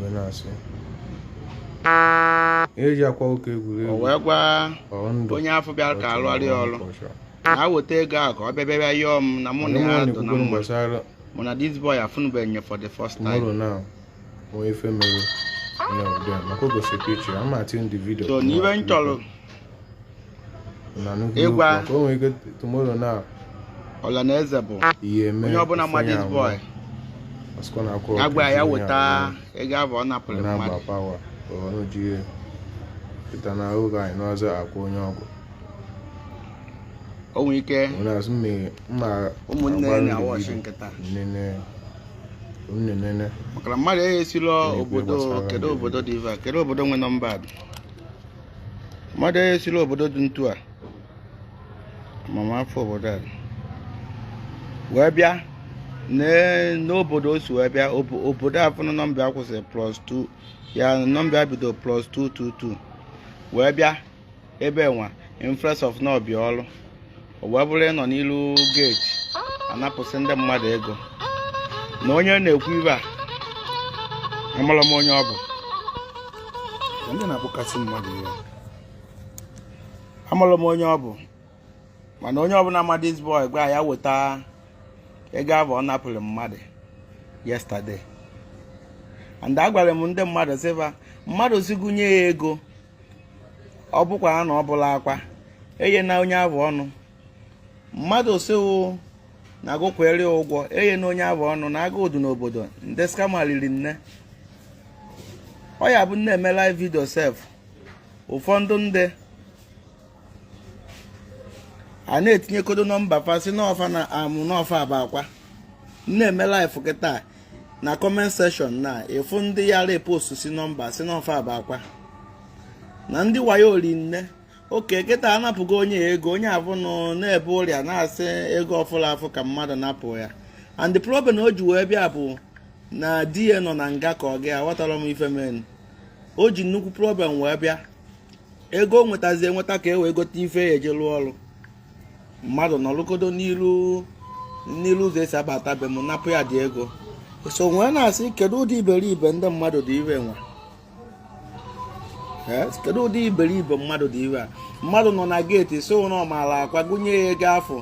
wee na-asị eji akwa ụka egwuregwu o wee gwa onye afụ bịara ka a lụara ya ọrụ na weta ego a ka ọ bịa bịa yọọ m na mụ na ya dụ na mma gbasara mụ na this boy afụnụbeghị anya for the first time tomorrow now onye ife mere na ụdị a maka o gosiri picture ama atin the video so n'iwe m chọrọ ịgwa ọla na eze bụ onye ọbụla ma this boy ya gwa ya weta ego avụ ọ napụrụ mmadụ pụta na oge anyị n'ọzọ akwụ onye ọgwụ o nwere ike ụmụnne na-awatch kịta na-enene maka na mmadụ eghesila obodo kedu obodo dị ive kedu obodo nwe nọmba mmadụ onye siri obodo dị ntu a amama afa obodo a wee bịa ne- n'obodo o si wee bịa obo- obodo afụnụ nọmba ya kwụsịrị plus 2 ya nọmba ya bido plus 222 wee bịa ebe nwa infres of na ọ bịa ọrụ o wee bụrụ ịnọ n'ilu geeti anapụsị ndị mmadụ ego na onye na-ekwu ive a amarọ m onye ọ bụ ndị na-akpọkasị mmadụ iwe amarọ m onye ọ bụ mana onye ọbụla ma this boy gwa ya weta ego avụ ọ napụrụ mmadụ yesterday and agwara m ndị mmadụ sị va mmadụ si gụnye ya ego ọ bụkwa na ọ bụla akwa eye na onye avụnụ mmadụ sị ọ na agụkwere ụgwọ eye na onye avụnụ na agụ ụdụ n'obodo ndị scammer riri nne ọ ya bụ m na-eme live video sef ụfọdụ ndị a na-etinyekodo nọmba fa sị na ọ fa na amụ na ọ fa bụ akwa na-eme live kịta na comment section na ịfụ ndị ya repost si nọmba sị na ọ fa bụ akwa na ndị wayo ori nne okay kịta anapụgo onye ego onye avụ nọ na-ebe ụrịa na-asị ego ọ fụla afụ ka mmadụ napụ ya and the problem o ji wee bịa bụ na di ya nọ na nga ka ọ gị aghọtara m ife mere o ji nnukwu problem wee bịa ego o wetazi eweta ka e wee gote ife ya eji lụọ ọrụ mmadụ nọrọkodo n'iru n'iru ụzọ esi abata be m napụ ya the ego so m wee na-asị kedu ụdị iberibe ndị mmadụ dị ive nwa kedu ụdị iberibe mmadụ dị ive a mmadụ nọ na geeti sị na ọ maara akwa gụnye ya ego afụ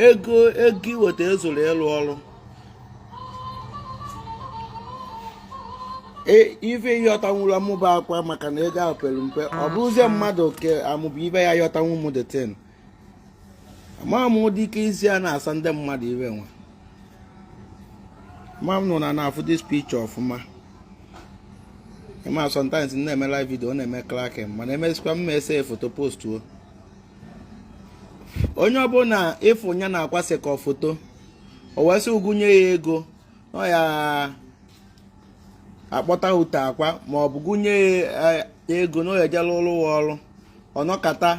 ego ego o weta ezurọ ịlụ ọrụ E, ife ị yọtanwụrụ amụba akwa maka na ego ahụ pere mpe ọ ah, bụrụzie ah. mmadụ ke amụba ibe ayọtanwu m the thing ama m ụdị ike isi a na-asa ndị mmadụ ife nwa ma ụnụ na na-afụ this picture ọfụma ị ma sometimes m na-eme live video ọ na-eme cracking mana emesịkwa m ese foto postuo onye ọbụla ịfụ ya na-akwasị ka foto o wee sị gụ nye ya ego ọ ya akpọta ute akwa ma ọ bụ gụ nye ya eh, ego na ọ ya ejela ụlọ ụwa ọrụ ọ nọkata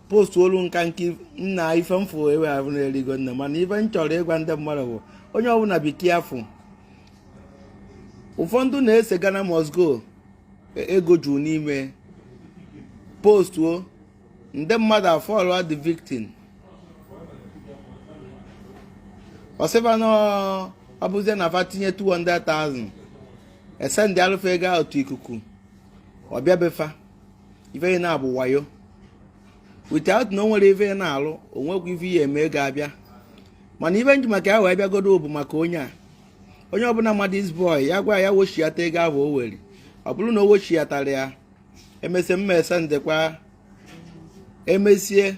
postuolu nka nke nna ife m fụ ebe ahụ na-erigo nne mana ife m chọrọ ịgwa ndị mmadụ bụ onye ọbụla biko ị afụ ụfọdụ na-ese Ghana must go e, ego juru n'ime postuo ndị mmadụ afọlụọ the victim a sịba na ọ bụzie na fa tinye 200,000 esendịalụ fa ego ahụ otu ikuku ọ bịa be fa ife na-abụ wayo without na o nwere ife na-alụ o nwekwa ife ya eme ego abịa mana ife m ji maka ya wee bịagodo bụ maka onye a onye ọbụla ma this boy ya gwa ya wechiata ego ahụ o were ọ bụrụ na o wechiatara ya emesịa m ma esendekwa emesie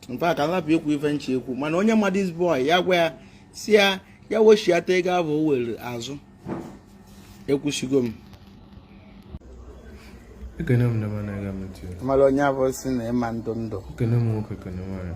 mfe ka m lapụ ikwu ife m chọ ekwu mana onye ma this boy ya gwa ya sị ya ya wechiata ego ahụ o were azụ ekwusigo m ekene m na mana aga m etu ya mara onye abụ si na ịma ndụ ndụ ekene m nwoke ekene nwaanyị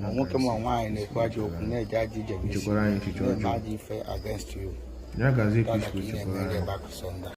ma nwoke ma nwaanyị na-ekwu ajọ okwu na-eje ajọ ije bụ isi na-eme ajọ ife against you ya gazi ka ị na-eme back to sender